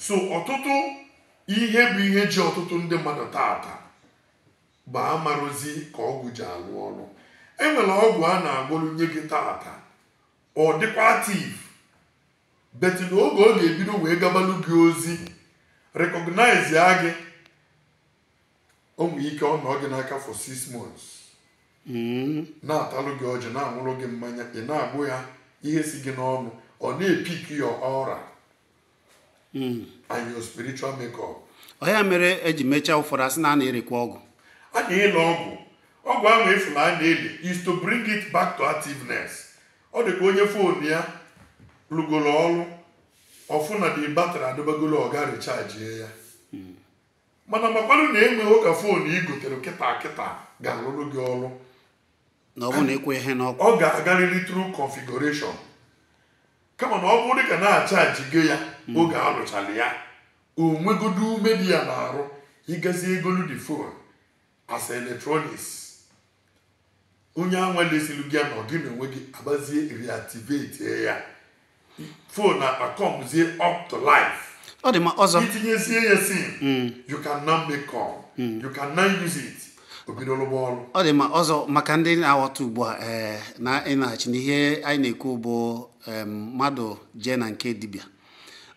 so ọtụtụ ihe bụ ihe ji ọtụtụ ndị mmadụ taata bụ amarozi ka ọgwụ ji alụ ọrụ enwere ọgwụ a na-agwọrụ nye gị taata ọ dịkwa active but na oge ọ ga-ebido wee gabalụ gị ozi recognize ya gị o nwere ike ọ nọ gị n'aka for six months hmm. na-atalụ gị ọjị na-aṅụrụ gị mmanya ị na-agbụ ya ihe si gị n'ọnụ ọ na-epik your aura hmm. and your spiritual makeup ọ ya mere eji mechaa ụfọdụ asị na a na-erekwa ọgwụ a na-ele ọgwụ ọgwụ ahụ ị fụ na a na-ele is to bring it back to activeness ọ dị ka onye phone ya lụgoro ọrụ ọ fụ na the battery adịbago low ọ gaa richajie ya hmm. mana makwanụ na enweghị ka phone i gotere kịta kịta ga-alụrụ gị ọrụ na ọ bụrụ na ị kwụnye n'ọkụ ọ ga-agarịrị through configuration kama na ọ bụrụ dịka na a chajigo ya oge a rụchara ya o nwegodo ume dị ya n'arụ ị gazie golu the phone as electronics onye anwa lesiri gị ya na gị na onwe gị abịazie reactivate ya phone anwa akọmzie up to life ọ dị mma ọzọ i tinyezie ya sim hmm. you can now make call hmm. you can now use it o bido lụba ọlụ ọ dị mma ọzọ maka ndị na-aghọta ugbu a eh, na ịnaghachi n'ihe anyị na-ekwu bụ mmadụ jee na nke dibịa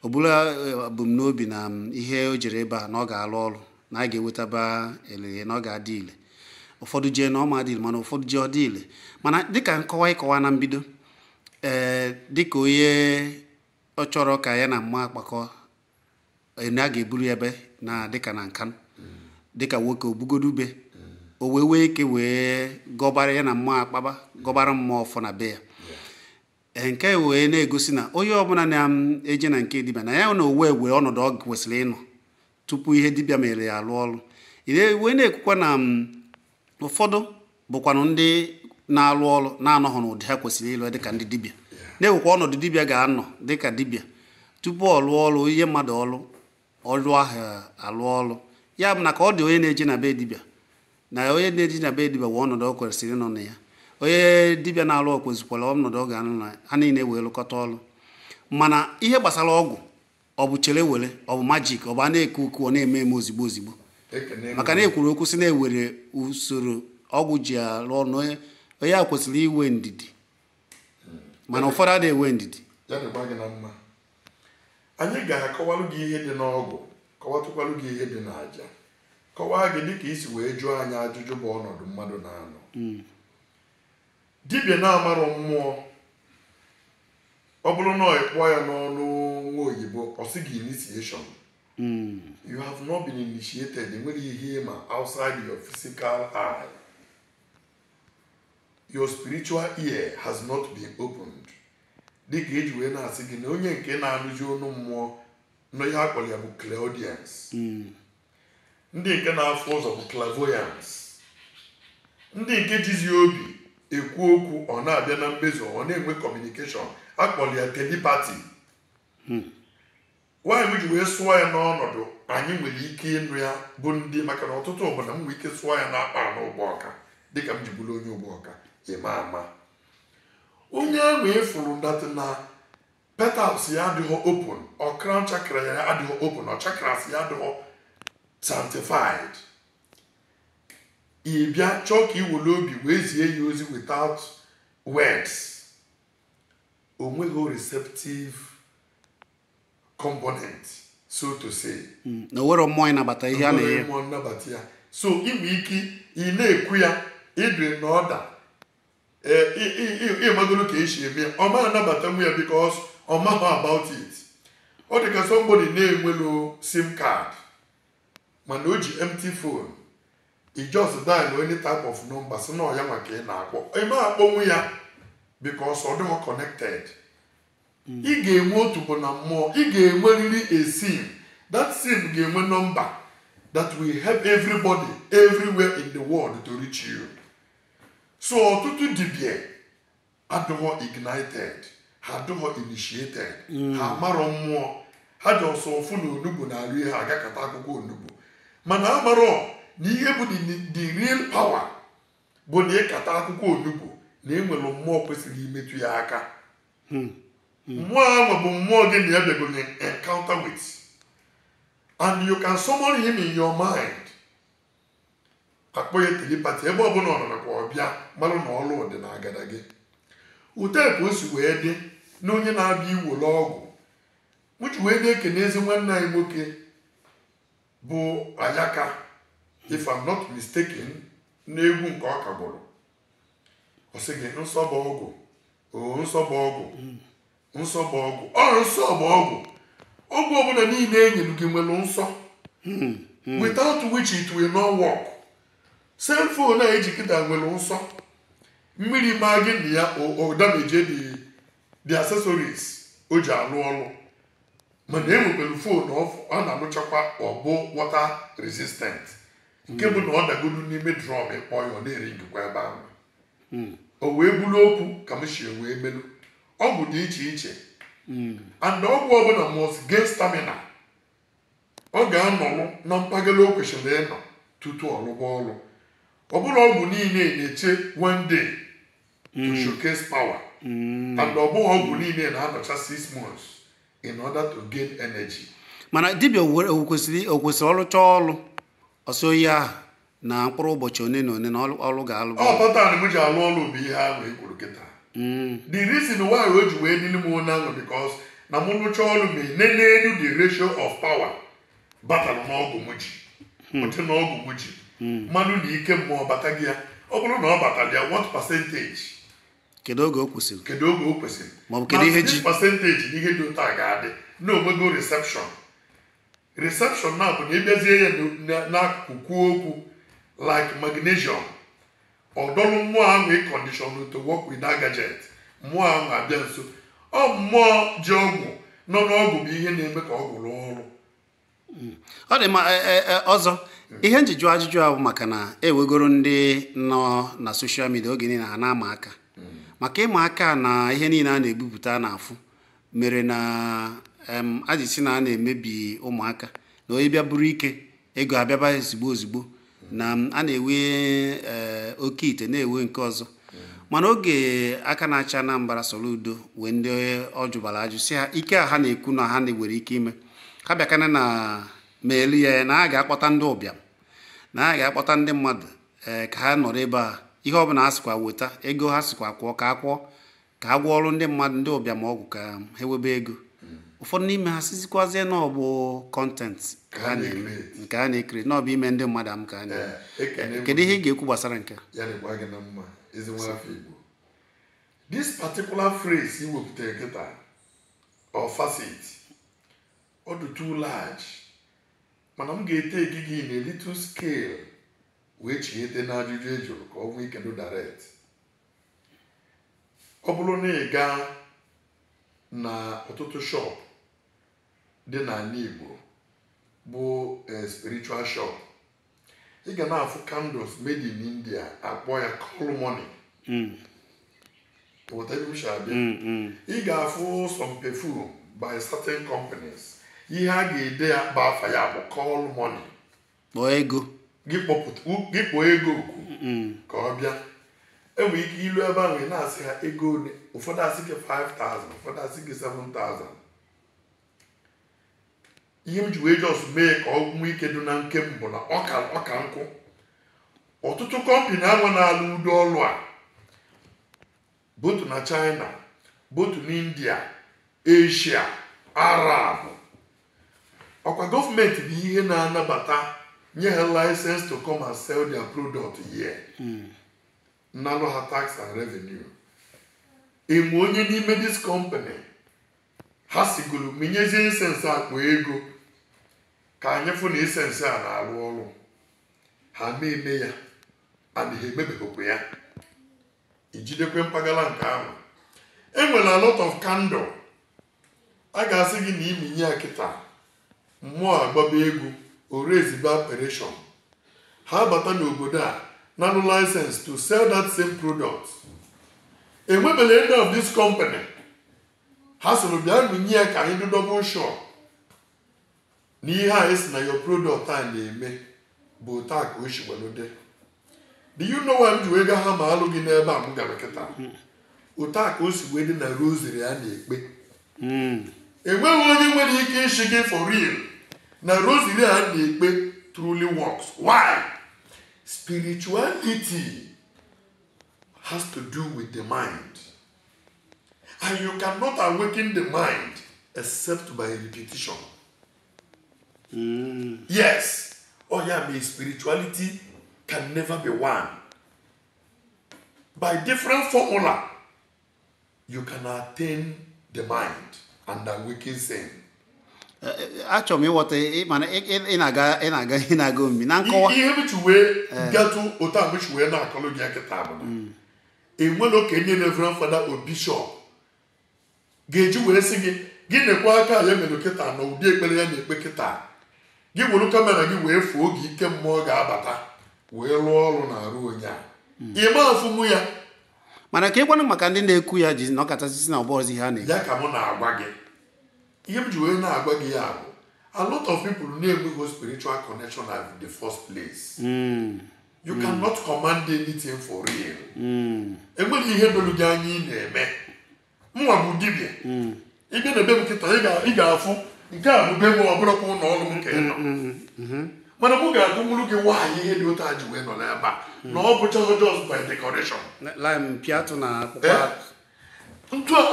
ọ bụla eh, ebumnobi na ihe o jere ebe a na ọ ga-alụ ọrụ na a ga-ewetaba elele na ọ ga-adị ile ụfọdụ jee na ọ ma dị ile mana ụfọdụ jee ọ dị ile mana dịka nkọwa ịkọwa na mbido ee eh, dịka onye ọ chọrọ ka ya na mmụọ akpakọ eh, na a ga-eburu ebe na dịka na nka dịka nwoke obugodo ube o wee nwee ike wee gọbara ya na mmụọ akpaba gọbara mmụọ ọfọ na be ya eh, nke wee na-egosi na onye ọbụla na-eje na nke dibịa na ya na onwe nwee ọnọdụ ọ kwesịrị ịnọ tupu ihe dibịa mere ya alụ ọrụ wee na-ekwukwa na mm, ụfọdụ bụkwanụ ndị na-alụ ọrụ na-anọghị n'ụdị ha kwesịrị ịlụ dịka ndị dibịa na-enwekwa ọnọdụ dibịa ga-anọ dịka dibịa tupu ọ lụọ ọrụ ihe mmadụ ọrụ ọlụ ahụ alụ ọrụ ya bụ na ka ọ dị onye na-eje na be dibịa na onye na-eje na be dibịa nwee ọnọdụ ọ kwesịrị ịnọ na ya onye dibịa na-alụ o nwezikwa ọnọdụ ọ ga-anọ na ha niile wee lụkọta ọrụ mana ihe gbasara ọgwụ ọ bụ chere were ọ bụ magic ọ bụ a na-ekwu okwu ọ na-eme eme ozigbo ozigbo maka na ekwuru okwu sị na e nwere usoro ọgwụ ji arụ ọrụ onye a kwesịrị inwe ndidi mana ụfọdụ adịghị enwe ndidi anyị ga-akọwalụ gị ihe dị n'ọgwụ kọwatụkwalụ gị ihe dị n'aja kọwaa gị dịka i si wee jụọ anyị ajụjụ bụ ọnọdụ mmadụ na-anọ hmm. Dibịa na-amarọ mmụọ ọ bụrụ na e kwuo ya n'ọnụ nwa oyibo ọ sị gị initiation hmm. you have not been initiated enwere ihe ma outside your physical eye your spiritual ear has not been opened dịka eji wee na-asị gị na onye nke na-anụzi onu mmụọ na ihe akpọrọ ya bụ clairaudience hmm. ndị nke na-afụ ụzọ bụ clairvoyance ndị nke jizi obi ekwu okwu ọ na-abịa na mmezu ọ na-enwe communication akpọrọ ya telepathy why m ji wee sụọ ya n'ọnọdụ anyị nwere ike ịnụ ya bụ ndị maka na ọtụtụ obodo m nwere ike sụọ ya n'akpa anụ Ugbawka dịka m ji bụrụ onye Ugbawka ịma ama onye ahụ ịfụrụ that na petals ya adịghị open or crown chakra ya adịghị open or chakras ya adịghị sanctified ị bịa chọọ ka iwere obi wee zie ya ozi without words o nweghị receptive component so to say Mm, na o nwere mmụọ ịnabata ihe a Enweghị na-enye mmụọ nnabata ya so inwe ike ị na-ekwu ya ịdị n'order ịmagoro ka esi eme ya ọ ma anabatanwu ya because ọ maghị about it ọ dị ka somebody na-enwelo sim card mana o ji empty phone i just dial any type of number sị na ọ ya nwa ka ị na-akpọ ị ma akpọnwu ya because ọ dịghọ connected ị ga-enwe otu bụ na mmụọ ị ga-enwerịrị a sim that sim ga-enwe number that will help everybody everywhere in the world to reach you so ọtụtụ dibịa adịghọ ignited ha adịghọ initiated ha amarọ mmụọ ha ji ọsọ ụfụ na onugbu na-alụ ihe aga kata akwụkwọ onugbu mana amarọ na ihe bụ the- the real power bụ na ịkata akwụkwọ onugbu na enwere mmụọ kwesịrị imetụ ya aka mmụọ ahụ bụ mmụọ gị na ya bịagoro in encounter with and you can summon him in your mind akpọ ya telepathy ebe ọbụla ọ nọ nakwa ọ bịa malụ na ọlụ dị na agada gị ụta ka o si wee dị na onye na-abịa iwere ọgwụ m ji wee na-ekene ezi nwanne anyị nwoke bụ Ayaka if I'm not mistaken n'egwu nke ọ kagbụrụ ọ sị gị nsọ bụ ọgwụ oo nsọ bụ ọgwụ nsọ bụ ọgwụ ọ nsọ bụ ọgwụ ọgwụ ọbụla niile e nyere gị nwere nsọ hmm, hmm. without which it will not work cell phone a eji kịta nwere nsọ mmiri maa gị na ya o damage the the accessories o ji alụ ọrụ mana e nwekwere phone ọ na-anụchakwa ọ bụ water resistant nke bụ na ọ dagodu n'ime drum ị kpọọ ya ọ na-eringịkwa ebe ahụ hmm. o wee bụrụ okwu ka m si wee melu ọgwụ dị iche iche and ọgwụ ọbụla must gain stamina ọ ga-anọlụ na mpaghara o kwesịrị ịnọ tutu ọ lụba ọrụ ọ bụrọ ọgwụ niile na-eche one day to showcase power and ọ bụghị ọgwụ niile na-anọcha six months in order to gain energy mana dibịa were- o kwesịrị o kwesịrị ọ rụchaa ọlụ ọ sọọ ihe ahụ na mkpụrụ ụbọchị one na one na ọlụ ọlụ ga-alụ ọ pattern m ji alụ ọlụ bụ ihe ahụ e kwuru kịta Mm, the reason why o ji wee dịrị m otu ahụ because na mụ rụchaa ọrụ m enenenu the ratio of power batara n'ọgwụ m ji ụdị na ọgwụ m ji mmadụ na ike mmụọ batago ya ọ bụrụ na ọ batara ya what percentage kedu oge o kwụsịrị kedu oge o kwesịrị Ma ọ bụ kedu ihe ji? percentage na ihe dị otu a ga-adị na o nwego reception reception a bụ na ị bịazie ya na- n'akụkụ kwuo okwu like magnesium ọ dọrọ mmụọ ahụ in condition to work with that gadget mmụọ ahụ abịa nso ọ mmụọ ji ọgwụ nọ n'ọgwụ bụ ihe na-eme ka ọgwụ rụọ ọrụ ọ dị ma e- e- e- ọzọ ihe m ji jụọ ajụjụ a bụ maka na e nwegoro ndị nọ na social media oge niile ha na-ama aka maka ịma aka na ihe niile a na-ebupụta a na-afụ mere na e ji sị na a na-emebi ụmụaka na onye bịa buru ike ego abịaba ozigbo ozigbo na a na-ewe eh, oke ite na-ewe nke ọzọ mana oge aka na-achị Anambra Soludo nwee ndị ọ jụbara ajụ sị ha ike a ha na-ekwu na ha nwere ike ime ha bịakene meelụ ya na a ga-akpọta ndị ụbịam na a ga-akpọta ndị mmadụ ee eh, ka ha nọrọ ebe a ihe ọ bụla ha sịkwa weta ego ha sịkwa kwụọ ka a kwụọ ka a gwọọrụ ndị mmadụ ndị ụbịam ọgwụ ka ha nwebe ego ụfọdụ n'ime ha sịzikwazie na ọ bụ content ka ha na-eme nke a na-ekiri na ọ bụ ime ndị mmadụ amụ ka a na-eme eh, kedu ihe ị ga-ekwu gbasara nke this particular phrase i wepụtara kịta or facet ọ dị too large mana m ga-ete gị gị na little scale wee chighete n'ajụjụ ị jụrụ ka ọ nwee ike direct ọ bụrụ na ị gaa na ọtụtụ shop dị n'ala Igbo bụ eh, spiritual shop ị ga na-afụ candles made in India a kpọọ ya call money Mm, Ghọta ebe m si abịa? mm, mm. ị ga-afụ some perfume by certain companies ihe a ga-ede ya bụ afa ya bụ call money kpọọ ego gị kpọọ ego oku mm. ka ọ bịa i nwere ike ilu ebe ahụ ị na-asị ha ego one ụfọdụ asị gị 5000 ụfọdụ asị gị 7000 ihe m ji wee just mee ka ọ nwee ike dị na nke m bụ na ọka ọka nkụ ọtụtụ company ahụ na-alụ ụdị ọlụ a both na china both na india asia arab ọkwa gọọmenti bụ ihe na-anabata nye ha license to come and sell their product here nalụ ha tax and revenue enwe onye n'ime this company ha sịgoro menyezie incense a kpọọ ego ka anyị fụ na incense a na-arụ ọrụ ha na-eme ya and ha emebeghịkwa ya i jidekwe mpaghara nke ahụ enwere a lot of candle a ga-asị gị na i menye ya kịta mmụọ agbaba egwu ore ezigbo operation ha bata n'obodo a nalụ license to sell that same product enwebela any of this company ha sịrị bịa menye ya ka anyị dị double sure na ihe a ị sị na your product a na-eme bụ otu a ka o si were dị do you know why m ji wee ga ha ma alụ gị n'ebe a m gara kịta otu a ka o si wee dị na rosary a na-ekpe enweghị onye nwere ike ịsị gị for real na rosary a na-ekpe truly works why spirituality has to do with the mind And you cannot awaken the mind except by repetition. Mm. Yes. Ọ ya mere spirituality can never be one. By different formula, you can attain the mind and awaken sin. Eh, eh, achọrọ m ịghọta eh, mana ị na-aga ị na-aga ị na-aga omimi na nkọwa ihe m ji wee gatụ otu a m ji wee na-akọlụ gị ya kịta bụ na mm. enwere oge onye Reverend Father or Bishop ga-eji wee sị gị gị nekwaa ka ya mere kịta na ụdị ekpere ya na-ekpe kịta gị were camera gị wee fụ oge ike mmụọ ga-abata wee rụọ ọrụ na arụ onye a ị ma afụnwu ya mana keekwanụ maka ndị na-ekwu ya ji nọkata sị sị na ọ bụzi ha na-ekwu ya ka mụ na-agwa gị ihe m ji wee na-agwa gị ya bụ a lot of people na-enweghị spiritual connection at the first place you cannot command anything for real enweghị ihe doro gị anya ị na-eme mụnwa bụ dibịa ị bịa na be m kịta ị ga- ị ga-afụ nke a bụ be m ọ bụrụkwa ụlọ ọrụ m ka ị nọ mana mụ ga-agụnwuru gị why ihe dị otu a ji wee nọ n'ebe a na ọ bụcha just by decoration mpi atụ na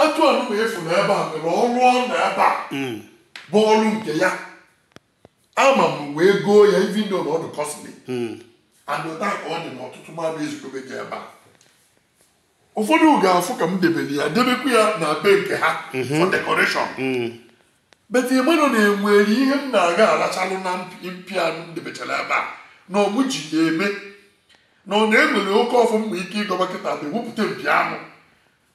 atụ anụ ma efu na ebe a nwere ọrụ ọ na ebe a bụ ọrụ nke ya ama m wee goo ya even though na ọ dị costly hmm. and otu a ka ọ dị na ọtụtụ mmadụ ezikobe gị ebe a ụfọdụ ga-afụ ka m debere ya debekwa ya na be nke ha hmm. for decoration hmm. but ị manụ na enwere ihe m na-aga alachalụ na mpi a m debechara ebe a na ọ mụ ji ya eme na ọ na-enwere oke ọfụ mma ike ịgọba kịta bụ ewepụta mpi anụ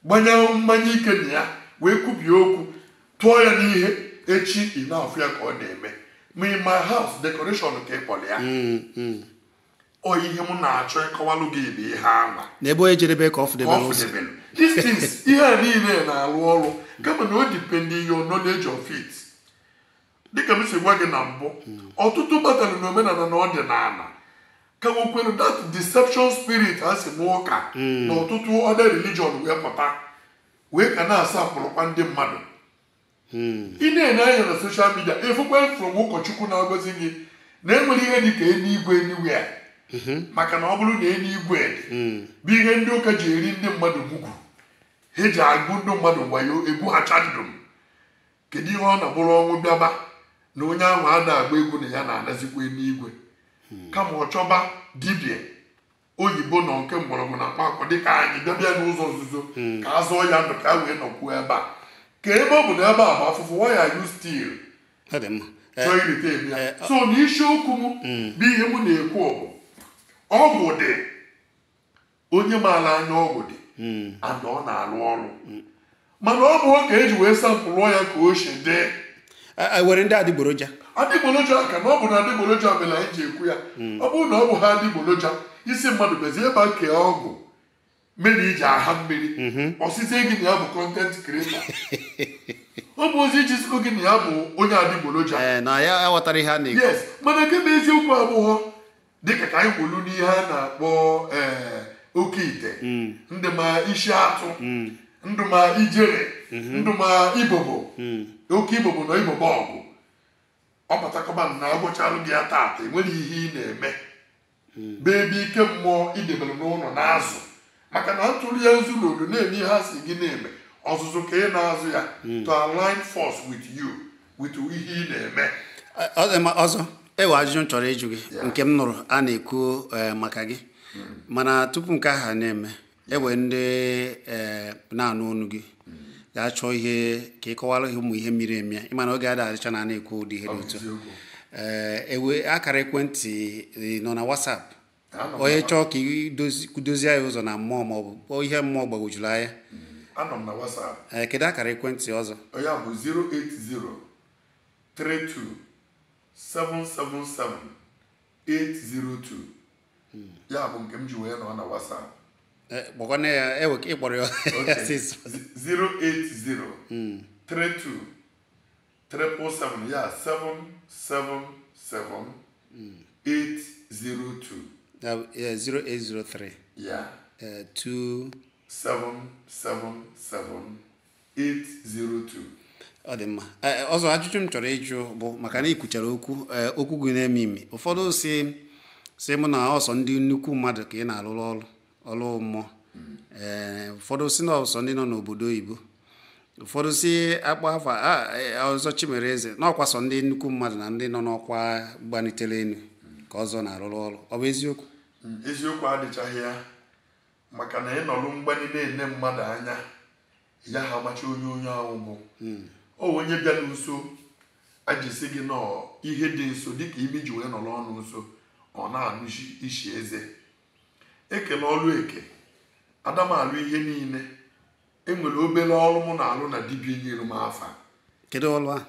gbanye mmanya ike na ya wee kwubie okwu tụọ ya n'ihe echi ị na-afụ ya ka ọ na-eme ma in my house decoration ka ị kpọrọ ya mm, mm. ọ ihe m na-achọ ịkọwalụ gị bụ ihe ama n'ebe onye jedebe ka ọ fụdebere ụzọ these things ihe a niile na-arụ ọrụ kama na o dependi your knowledge of it dịka m si gwa gị na mbụ ọtụtụ batara na omenala na ọdịnala ka nwekwere that deception spirit ha si n'ụka na ọtụtụ other religion wee pụta wee ka na-asa akpụrụkwa ndị mmadụ ị na-ene anya na social media ị fụkwa former ụkọchukwu na-agwazi gị na enwere ihe dị ka eluigwe anywhere maka na ọ bụrụ na eluigwe bụ ihe ndị ụka ji eri ndị mmadụ mugwu ha ji agwọ ndị mmadụ wayo egwu ha chandụm kedu ihe ọ na-abụrụ ọnwụ bịaba na onye ahụ anaghị ekwu na ya na-anazikwa eluigwe kama ọ chọba dibịa oyibo nọ nke mgbọrọgwụ na mkpaakwụkwọ dịka anyị bịabịa n'ụzọ nzuzo ka a zọọ ya ndụ ka a wee nọkwuo ebe a ka ebe ọ bụ na ebe a bụ afụfụ why are you still ọ dị mma Eh, chọọ irite ebe ya eh, so na isiokwu m bụ ihe m na-ekwu bụ ọgwụ dị onye maara anya ọgwụ dị hmm. and ọ na-alụ ọrụ hmm. mana ọ bụghọ ka eji wee sampụlụọ ya ka o si dị e, e, nwere ndị adịgboroja adịgboroja ka na ọ bụ na adịgboroja mere anyị ji ekwu ya hmm. ọ bụrụ na ọ bụ ha adịgboroja ị si mmadụ bezie ebe kee ọgwụ mmiri iji aha mmiri mhm. ọ sịzị gị na ya bụ content creator ọ bụ ozi iji sikọ gị na ya bụ onye adịgboroja eh, yes mana nke bụ eziokwu abụghọ dịka ka anyị kwuru n'ihe a na-akpọ ee oke ite ndị ma isi atụ ndị ma ijere ndị ma ibobo oke ibobo na ibobo ọgụ ọ batakọba na agwọchalụ gị ya taata enwere ihe ị na-eme bebi ike mmụọ i debere n'ụlọ na-azụ maka na ntụrụ ya nzu na odo na-eme ihe a si gị na-eme ọzụzụ ka ị na-azụ ya hmm. to align force with you with ihe ị na-eme Ọzọ e nwe ajụjụ m chọrọ ịjụ gị nke m nụrụ a na-ekwu eh, maka gị hmm. mana tupu nke ahụ na-eme e nwe ndị eh, na-anụ ọnụ gị hmm. ga-achọ ihe ka ị kọwara ha ụmụ ihe miri emi ị ma na oge ada adịcha na a na-ekwu ụdị ihe dị otu a, e nwe akara ekwentị nọ na WhatsApp onye chọọ ka e dozie ya ụzọ na mmụọ ma ọ bụ ihe mmụọ gbagwojuru anya anọ m na WhatsApp ee kedu akara ekwentị Ọzọ ya bụ 08032777802 hmm. ya bụ nke m ji wee nọ na WhatsApp kpọkwana ya e nwe ka ị kpọrọ ya 08032 triple seven ya seven seven seven eight zero two Ya bụ, eh, 0803 ya eh, 2 seven seven seven eight zero two ọ dị mma Ee, ọzọ ajụjụ m chọrọ ịjụ bụ maka na ị kwuchara okwu ee, okwu gị na-emi emi ụfọdụ si si mụ na ọ sọ ndị nnukwu mmadụ ka ị na-arụrụ ọrụ ọlụ mmụọ ee ụfọdụ si na ọ sọ ndị nọ n'obodo oyibo ụfọdụ si akpa afa Ọzọ Chimereze na ọkwa sọ ndị nnukwu mmadụ na ndị nọ n'ọkwa gbanitere elu ka Ọzọ na-arụrụ ọrụ ọ bụ eziokwu hmm, eziokwu adịchaghị ya maka na ị nọrụ mgbanye na-ene mmadụ anya yaha amacha onye onye ahụ bụ hmm. ọ onye bịa nso a ji si gị na ọ ihe dị nso dịka imi ji wee nọrọ ọnụ nso ọ na-anụ isi eze e kelu ọlụ eke ada m alụ ihe niile enwere obere ọrụ mụ na-alụ na dibia nyere m afa kedu ọlụ a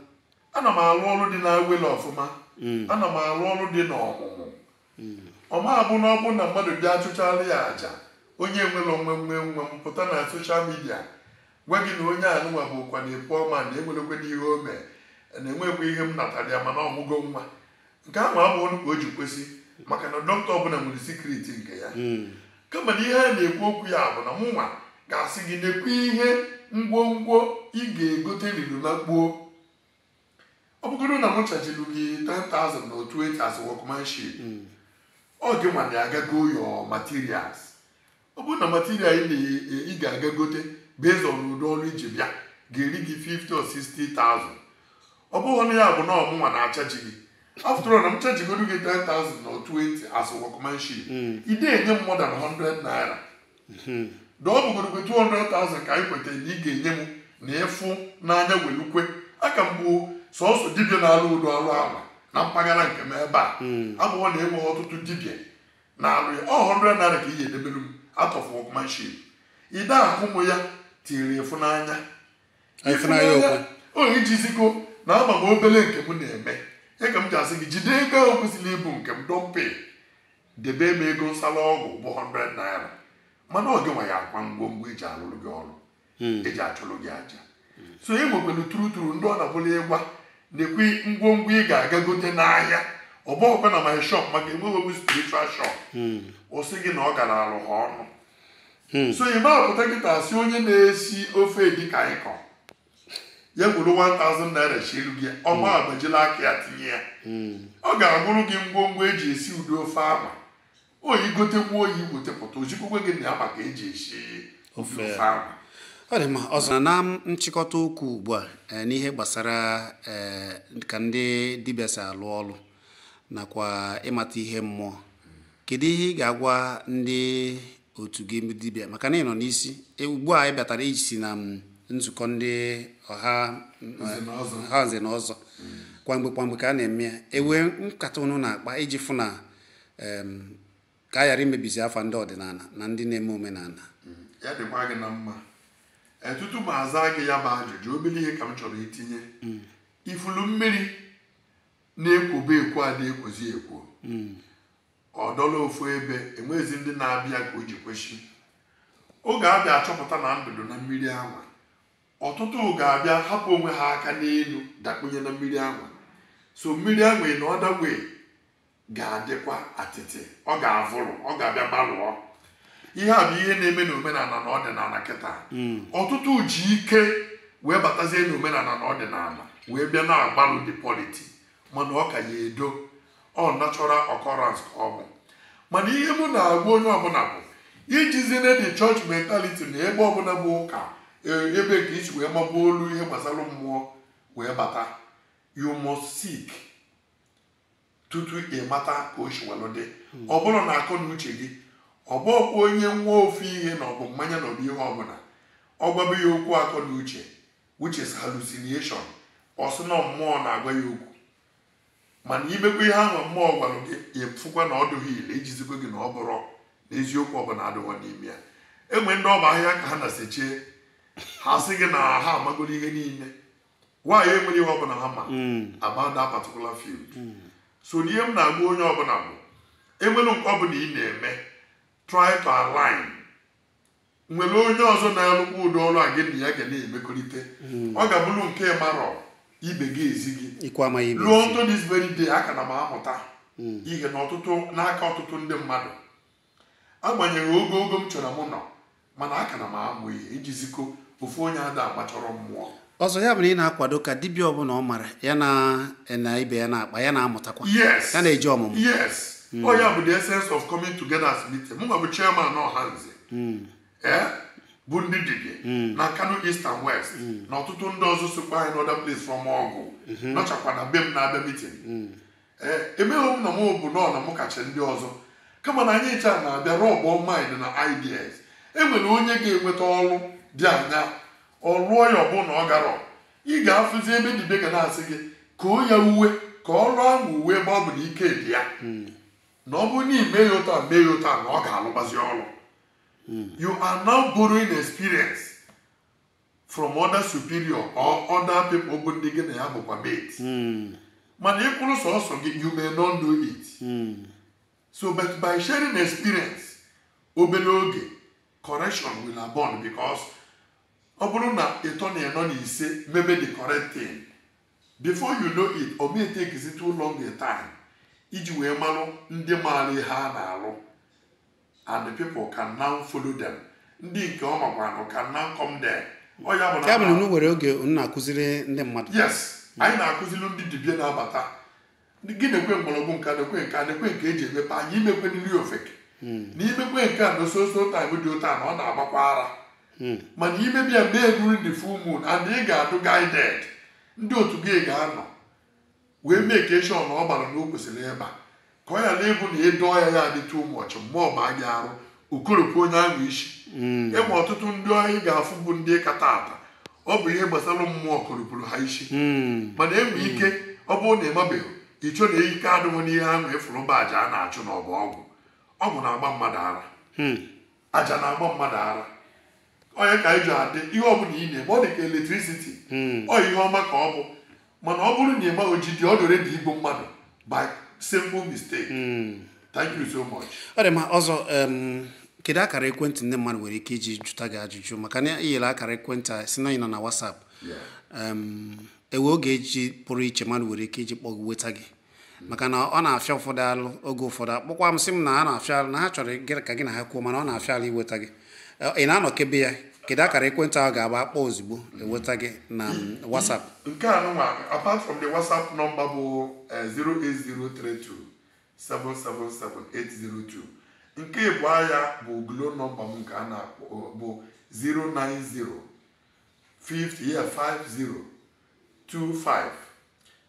ana m alụ ọrụ dị n'awele ọfụma hmm. ana m alụ ọrụ dị n'ọmụmụ hmm. ọ ma-abụ na ọ bụ na mmadụ bịa a chụchala ya aja onye nwere onwe nwe nwe m pụta na soshal midia gwa gị na onye anụnwa bụ ụkwa na-epu ọma na enwerekwe n'ihe o mee na-enwekwa ihe m natara ya mana ọ mụgo nwa nke ahụ abụghọ nụ ka o ji kwesị maka na dọkịta ọbụla nwere sikriti nke ya hmm. kama na ihe a na-ekwu okwu ya bụ na mụnwa ga-asị gị nekwa ihe ngwongwo ị ga-egote niine na kpuo ọ bụgoro na m chajilu gị 10,000 naira or 20 as workmanship hmm. ọ gịnwa na-aga ego your materials ọ bụrụ na material ị na- ị ga-aga gote based on ụdị ọrụ i ji bịa ga-eri gị 50 or 60,000 ọ bụghọ nụ ya bụ na ọ mụnwa na-achaji gị after all na m chajigodu gị 10,000 na 20 as workmanship ị na-enye m more than 100 naira na ọ bụgodokwe 200,000 ka anyị kwetara na ị ga-enye m na a fụ n'anya welu kwe a ka m bụ sọsọ dibịa na-alụ ụdị ọrụ ala na mpaghara nke m ebe a abụghọ na enweghị ọtụtụ dibịa na-alụ ya ọ 100 naira ka ị ga-edebere m out of workmanship ide ahụ mụ ya tiri ịfụnanya nye ị jizigo na ama m obere nke m na-eme ya ka m ji asị gị jide ego ahụ kwesịrị ịbụ nke m dọmpe debe m ego nsala ọgwụ bụ 100 naira mana ọ gị nwa ya akwa ngwongwo eji alụrụ gị ọrụ hmm. eji achụrụ gị aja so e nwekwara turuturu ndị ọ na-abụlụ ị gwa ha nekwa ngwongwo ị ga-aga gote n'ahịa ọ bụrọkwa na my shop maka enweghị spiritual shop hmm. ọ sị gị na ọ garalụ ha ọnụ hmm. so ị ma pụta kịta sị onye na-esi ofe edikaikong ya weru 1000 naira shielu gị ọ ma agbajili aka ya tinye ya ọ ga-agụrụ gị ngwongwo eji esi ụdị ofe ahụ ọ ị gotekwuo ị wetepụta o zikwukwe gị na ya ma ka eji esi ofe ahụ ọ dị mma ọzọ na nchịkọta okwu ugbu a eh, n'ihe gbasara eh, ka ndị dibịa si alụ ọrụ nakwa ịmata ihe mmụọ kedu ihe ị ga-agwa ndị otu gị dibịa maka na ị nọ n'isi e, ugbu a ị bịatara iji si na mm, nzukọ ndị ọha nze na ọzọ kwamgbe kwamgbe ka a na-eme ya e nwee nkata unu na-akpa iji fụ na ka a ghara imebizi afa ndị ọdịnala na ndị na-eme omenala hmm. ya dịkwa gị na mma e, tutu m aza gị ya bụ ajụjụ obere ihe ka m chọrọ itinye hmm. ị fụlụ mmiri na-ekwobu ekwo ada ekwozi ekwo hmm. ọ dọlụ ofu ebe enwezi ndị na-abịa ka o ji kwụsị ị ga-abịa achọpụta na ndụ dụ na mmiri anwa ọtụtụ ga-abịa hapụ onwe ha aka n'elu dakpunye na mmiri anwa so mmiri anwa na ọdagwe ga-adịkwa atịtị ọ ga-avụrụ ọ ga-abịa gbalụọ ihe a bụ ihe na-eme n'omenala na ọdịnala kịta hmm. ọtụtụ ji ike wee batazie n'omenala na ọdịnala wee bịa na-agbalụ the polity mana ọ ka ya edo ọ natural occurrence ka ọ bụ mana ihe mụ na-agwa onye ọbụla bụ ejizina the church mentality na ebe ọbụla bụ ụka e, ebe nke i si wee magbuo olu ihe gbasara mmụọ wee bata you must seek tutu ị mata ka o si welụ dị hmm. ọ bụrụ na akọ na uche gị ọ bụkwa onye ṅụọ ofu ihe na ọ bụ mmanya na ọ bụ ihe ọbụla ọ gwaba ya okwu akọ na uche which is hallucination ọ sị na mmụọ na-agwa ya okwu mana i mekwaa ihe ahụ mmụọ gwara gị ị fụkwa na ọ dụghị ile ijizikwa gị na ọ bụrụ na eziokwu ọbụla adịghọ n'ime ya enwe ndị ọ bụ ahịhịa ka ha na-esecha ha sị gị na ha amagoro ihe niile nwaanyị enwere ihe ọbụla ha ma hmm. about that particular field hmm. so ihe m na-agwa onye ọbụla bụ enwere nke ọbụla ị na-eme try to align nwere onye ọzọ na-alụkwa ụdị ọrụ a gị na ya ga na-emekọrịta hmm. ọ ga-abụrụ nke ị marọ ibe gị ezi gị luo until this very day aka na m amụta ihe n'aka ọtụtụ ndị mmadụ agbanyeghị ogo ogo m chọrọ m nọ mana aka na m amụ ihe iji ziko ofu onye ada agbachọrọ mmụọ ọzọ ya bụ na ị na-akwado ka dibịa ọbụla ọ mara ya na na ibe ya na-akpa ya na-amụtakwa yes ya na-eji ọmụmụ yes ọ ya bụ the essence of coming together as meeting mụ nwa bụ chairman Ọhaneze ee bụ ndị dibịa na Nkanu east and west na ọtụtụ ndị ọzọ sokwa anyị n'other place from Awgu nọchakwa na be m na-abịa meeting ee emeghị m na m bụ nọọ na mụ kacha ndị ọzọ kama na anyị ncha na-abịa rub mind na ideas e nwere onye ga-enweta ọrụ dị anya ọ rụọ ya ọbụ na ọ garọ ị ga-afụzi ebe dibịa ga na-asị gị ka o ya uwe ka ọrụ ahụ uwe ebe ọ bụ na ike dị ya na ọ bụrụ na i mee ya otu a mee ya otu a na ọ ga-alụgbazi ọrụ you are now borrowing experience from other superior or other people bụ ndị gị na ya bụkwa mate hmm. mana ị kwụrụ sọsọ gị you may not know it hmm. so but by sharing experience obere oge correction will abound because ọ bụrụ na ịtọ na ịnọ na ise mebe the correct thing before you know it ọ may take too long a time iji wee malụ ndị maara ihe a na-alụ and the people can now follow them ndị nke ọ makwanụ can now come there ọ ya bụ na ya bụ na unu nwere oge unu na-akụziri ndị mmadụ yes anyị na-akụziri ndị dibịa na-abata gị nekwe mgbọrọgwụ nke a nekwe nke a nekwe nke eji emepe anya imekwe nri ofeke na imekwe nke a na so so time dị otu a na ọ na-agbakwa ara mana i mebe ya mee during the full moon and ị ga-adụ guided ndị otu gị ga-anọ wee make sure na ọ bara na o kwesịrị ịba ka ọ ghara ịbụ na ịdọ ya ya adị too much mgbe ọ baa gị arụ okoropụ onye ahụ isi enwe ọtụtụ ndị anyị ga-afụ bụ ndị kata ata ọ bụ ihe gbasara mmụọ koropụrụ ha isi mana enwe ike ọ bụrụ na ịmabeghị icho na ike adịghị n'ihe ahụ ịfụrụ mba aja a na-achụ na ọbụ ọgwụ ọgwụ na-agba mmadụ ara aja na-agba mmadụ ara onye ka anyị ji adị ihe ọ bụla ị na-eme ọ dị ka electricity hmm. ọ ihe ọma ka ọ bụ mana ọ bụrụ na ị maghị ojide ọ dị ready igbu mmadụ by simple mistake hmm. thank you so much ọ dị mma ọzọ kedu akara ekwentị ndị mmadụ nwere ike iji jụta gị ajụjụ maka na i nyere akara ekwentị a sị na ị nọ na WhatsApp enwe oge eji pụrụ iche mmadụ nwere ike iji kpọọ gị nweta gị maka na ọ na-afịa ụfọdụ alụ oge ụfọdụ akpọkwa m sị m na a na-afịa alụ na ha chọrọ ka gị na ha kwuo mana ọ na-afịa alụ iweta gị Eh, ị na-anọkebe ya kedu akara ekwentị ahụ ga-abụ akpọọ ozugbo eweta gị na mm, WhatsApp nke a nụnwa apart from the whatsapp nọmba bụ eh, 08032777802 nke ịbụọ ya bụ glo nọmba m nke a na-akpọ bụ 090 50 yeah, 50 25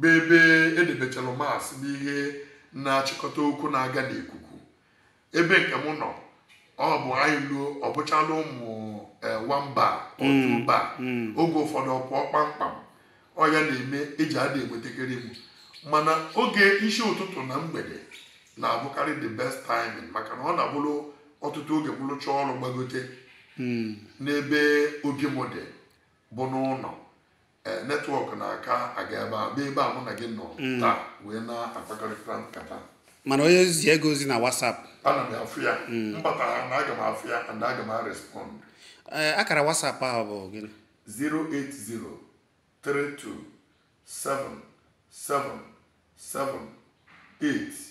bụ ebe edebechalụ mast bụ ihe na-achịkọta okwu na-aga n'ikuku ebe nke m nọ ọ bụ anyị luo ọ bụchala ụmụ eh, one bar or two bar oge ụfọdụ ọ pụọ kpamkpam ọ ya na-eme eji adị enwetakarị m mana oge isi ụtụtụ na mgbede na-abụkarị the best timing maka na ọ na-abụrụ ọtụtụ oge m rụchaa ọrụ gbagote n'ebe obi m dị bụ n'ụlọ ee netwọk na-aka aga ebe a bụ ebe a mụ na gị nọ mm. taa wee na-akpakọrịta nkata mana onye ziego ozi na WhatsApp ana m afụ ya mm. m bata ha na aga m afụ ya and aga m arespond ee eh, akara WhatsApp ahụ bụ gịnị 080327778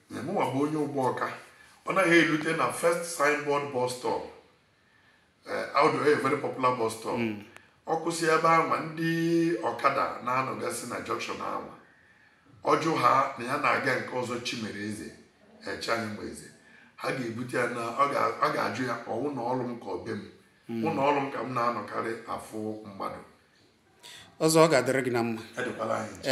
mụnwa bụ onye Ugbọọka ọ naghị elute na first signboard bus stop eh, ọ dị a very popular bus stop ọ kwụsị ebe anwa ndị ọkada na-anọgasị na junction anwa ọ jụ ha na ya na-aga nke Ọzọ Chimereze Echeanyịmeze ha ga-ebute ya na ọ ga- ọ ga-ajụ ya ọwụ na ọrụ m ka ọ be m ụlọ ọrụ m ka m na-anọkarị afụ mmadụ ọzọ ọ ga-adịrị gị na mma adịkwala anyị ncha.